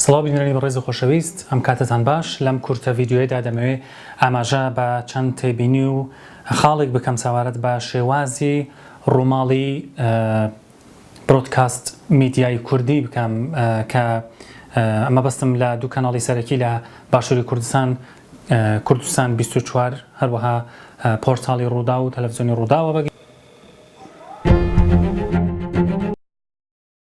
سڵاو بینەرانی بەڕێز و خۆشەویست ئەم کاتتان باش لەم کورتە ڤیددیوەیەدا دەمەوێ ئاماژە بە چەند تێبینی و خاڵێک بکەم ساوارەت بە شێوازی ڕووماڵی برۆدکاست میدیای کوردی بکەم کە ئەمە بەستم لە دوو کەناڵی سەرەکی لە باشووری کوردستان کوردستان 24 هەروەها پۆرتالی ڕوودا و تەلەڤزیۆنی ڕووداوە بەگەن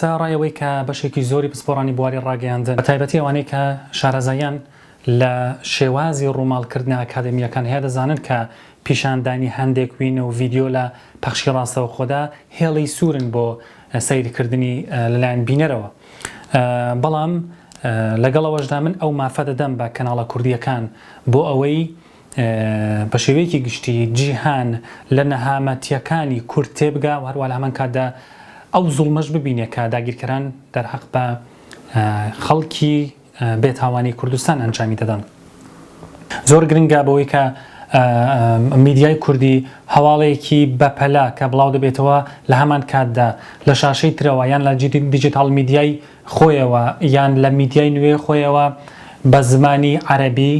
سەرەڕای ئەوەی کە بەشێکی زۆری پسپۆڕانی بواری ڕاگەیاندن بەتایبەتی ئەوانەی کە شارەزاییان لە شێوازی ڕووماڵکردنە ئەکادەمییەکان هەیە دەزانن کە پیشاندانی هەندێک وینە و ڤیدیۆ لە پەخشی ڕاستەوخۆدا هێڵی سوورن بۆ سەیرکردنی لەلایەن بینەرەوە بەڵام لەگەڵ ئەوەشدا من ئەو مافە دەدەم بە کەناڵە کوردییەکان بۆ ئەوەی بە شێوەیەکی گشتی جیهان لە نەهامەتییەکانی کورد تێبگا و هەروا لە هەمان کاتدا ئەو زوڵمەش ببینێ کە داگیرکەران دەرهەق بە خەڵکی بێتاوانی کوردستان ئەنجامی دەدەن. زۆر گرنگە بەوەی کە میدیای کوردی هەواڵێکی بەپەلە کە بڵاو دەبێتەوە لە هەمان کاتدا لە شاشەی ترەوە یان لە دیجیتاڵ میدیای خۆیەوە یان لە میدیای نوێ خۆیەوە بە زمانی عەرەبی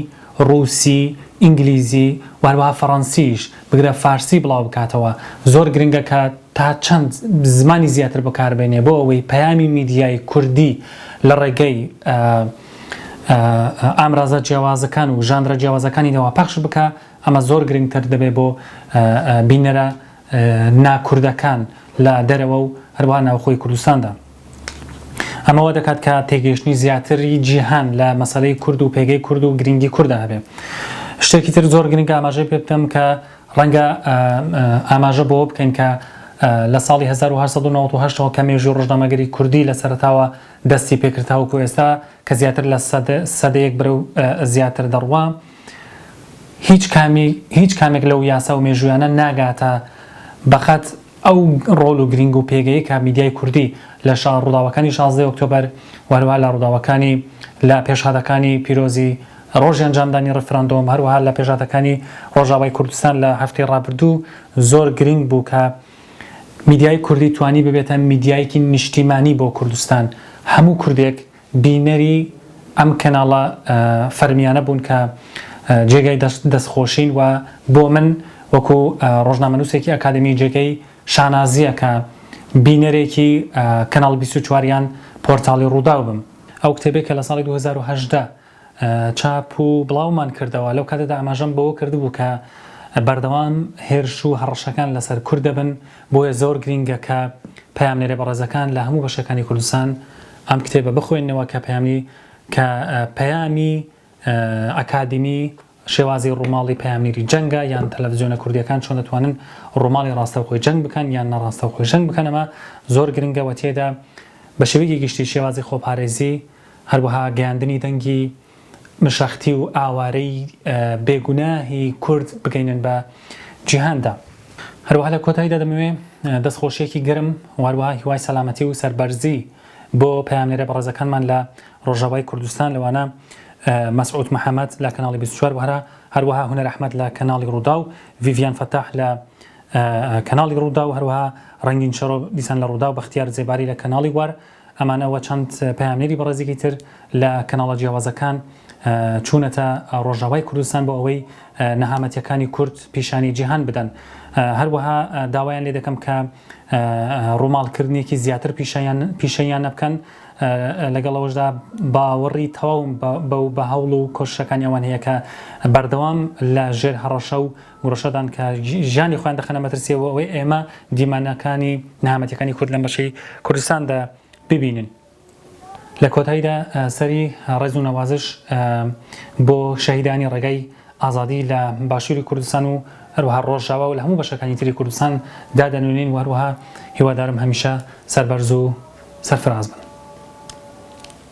ڕووسی، ئینگلیزی و هەروەها فەڕەنسیش، بگرە فارسی بڵاو بکاتەوە. زۆر گرنگە کە تا چەند زمانی زیاتر بەکار بێنێ بۆ ئەوەی پەیامی میدیای کوردی لە ڕێگەی ئامرازە جیاوازەکان و ژانرە جیاوازەکانیەوە پەخش بکا، ئەمە زۆر گرنگتر دەبێ بۆ بینەرە نا کوردەکان لە دەرەوە و هەروەها ناوخۆی کوردستاندا. ئەمە وا دەکات کە تێگەیشتنی زیاتری جیهان لە مەسەلەی کورد و پێگەی کورد و گرینگی کوردا هەبێ. شتێکی تر زۆر گرینگە ئاماژەی پێ بکەم کە ڕەنگە ئاماژە بۆوە بکەین کە لە ساڵی هەزار و هەشت سەد و نەوەد و هەشت ەوە کە مێژووی ڕۆژنامەگەری کوردی لە سەرەتاوە دەستی پێ کرد تاوەکو ئێستا کە زیاتر لە سەدە سەدەیەک بەرەو زیاتر دەڕوا، هیچ کامی هیچ کامێک لەو یاسا و مێژوویانە ناگاتە بەقەد ئەو ڕۆڵ و گرینگ و پێگەی کە میدیای کوردی لە شا ڕووداوەکانی شازدەی ئۆکتۆبەر و هەروەها لە ڕووداوەکانی لە پێشهاتەکانی پیرۆزی ڕۆژی ئەنجامدانی ڕیفراندۆم هەروەها لە پێشاتەکانی ڕۆژاوای کوردستان لە هەفتەی ڕابردوو زۆر گرینگ بوو کە میدیای کوردی توانی ببێتە میدیایەکی نیشتیمانی بۆ کوردستان هەموو کوردێک بینەری ئەم کەناڵە فەرمیانە بوون کە جێگای دەست خۆشین و بۆ من وەکو ڕۆژنامەنووسێکی ئەکادمی جێگەی شانازیە کە بینەرێکی کەناڵ بیست و چوار یان پۆرتاڵی ڕووداو بم ئەو کتێبەی کە لە ساڵی دوو هەزار و هەژدە چاپ و بڵاومان کردەوە، لەو کاتەدا ئاماژەم بەوە کردبوو کە بەردەوام هێرش و هەڕەشەکان لەسەر کورد دەبن، بۆیە زۆر گرینگە کە پەیامنێرە بەڕێزەکان لە هەموو بەشەکانی کوردستان ئەم کتێبە بخوێننەوە کە پەیامی کە پەیامی ئەکادیمی شێوازی ڕووماڵی پەیامنیری جەنگە یان تەلەفزیۆنە کوردیەکان چۆن دەتوانن ڕووماڵی ڕاستەوخۆی جەنگ بکەن یان نەڕاستەوخۆی جەنگ بکەن ئەمە زۆر گرنگە وە تێدا بە شێوەیەکی گشتی شێوازی خۆپارێزی هەروەها گەیاندنی دەنگی مشەختی و ئاوارەی بێ گوناهی کورد بگەینن بە جیهاندا. هەروەها لە کۆتاییدا دەمەوێ دەست خۆشیەکی گەرم و هەروەها هیوای سەلامەتی و سەربەرزی. بۆ پەیامنێرە بەڕێزەکانمان لە ڕۆژاوای کوردستان لەوانە مەسعود محەمەد لە کەناڵی 24 وهرا هەروەها هونەر ئەحمەد لە کەناڵی ڕووداو ڤیڤیان فەتاح لە کەناڵی ڕووداو هەروەها ڕەنگین شەرۆ دیسان لە ڕووداو بەختیار زێباری لە کەناڵی وار ئەمانە وە چەند پەیامنێری بەڕێزێکی تر لە کەناڵە جیاوازەکان چوونەتە ڕۆژاوای کوردستان بۆ ئەوەی نەهامەتیەکانی کورد پیشانی جیهان بدەن. هەروەها داوایان لێ دەکەم کە ڕووماڵکردنێکی زیاتر پیشەیان نەبکەن لەگەڵ ئەوەشدا باوەڕی تەواوم بەو بە هەوڵ و کۆششەکانی ئەوان هەیە کە بەردەوام لە ژێر هەڕەشە و گوڕشەدان کە ژیانی خۆیان دەخەنە مەترسیەوە بۆ ئەوەی ئێمە دیمەنەکانی نەهامەتیەکانی کورد لەم بەشەی کوردستاندا ببینن. لە کۆتاییدا سەری ڕێز و نەوازش بۆ شەهیدانی ڕێگای ئازادی لە باشووری کوردستان و هەروەها ڕۆژاوا و لە هەموو بەشەکانی تری کوردستان دا دەنوێنین و هەروەها هیوادارم هەمیشە سەربەرز و سەرفراز بن.